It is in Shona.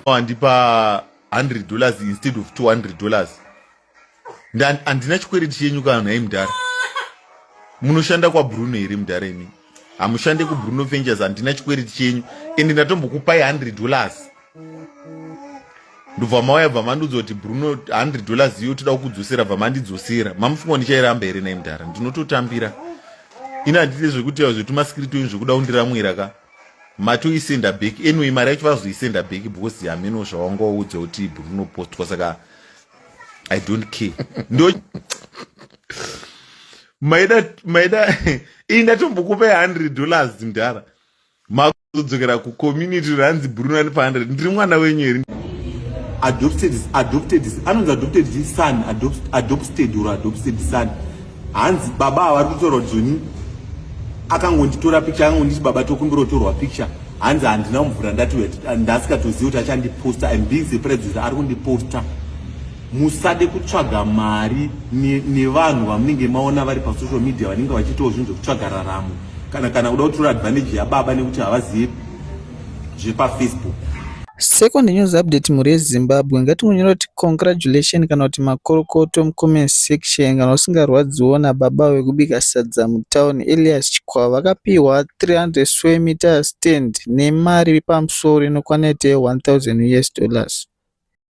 wandipa 100 dollars instead of 200 dollars handina chikwereti chenyu kana nhai mudhara munoshanda kwabruno here mudhara imii hamushande kubruno vengers handina chikwereti chenyu ende ndatombokupai 100 dollars ndobva mauya bva mandiudza kuti bruno 100 dollars iyo toda kukudzosera bva mandidzosera mamufunga ndichairamba here nai mudhara ndinototambira ini handite zvekuti zvetumasikirito ini zvekuda kundiramwira ka matoisenda back anyway mari yacho vazoisenda back because hameno zvawanga waudza kuti bruno postwa saka i don't care ndo maida maida iyi ndatombokupai 100 dollars mdhara makuzodzokera kucommunity ranzi brunani pa 100 ndiri mwana wenyu here adopted adopted anonzi adopted son adopted or adopted son hanzi baba avari kutorwa joni akangonditora picture akangonditi baba tokumbirotorwa picture hanzi handina mvura ndati ndasikatozivi kuti achandiposta im being surprised kuti ari kundiposta musade kutsvaga mari nevanhu ne vamunenge maona vari pasocial media vanenge vachiitawo zvinhu zvekutsvaga raramo kana kana kuda kutora advantage yababa nekuti havazivi zvepafacebook second news update mhuri yezimbabwe ngatingonyora kuti congratulation kana kuti makorokoto mucomment section kana usingarwadziwo nababa wekubika sadza mutown elias chikwava vakapiwa 300 square meter stand nemari pamusoro inokwana ite 1000 us dollars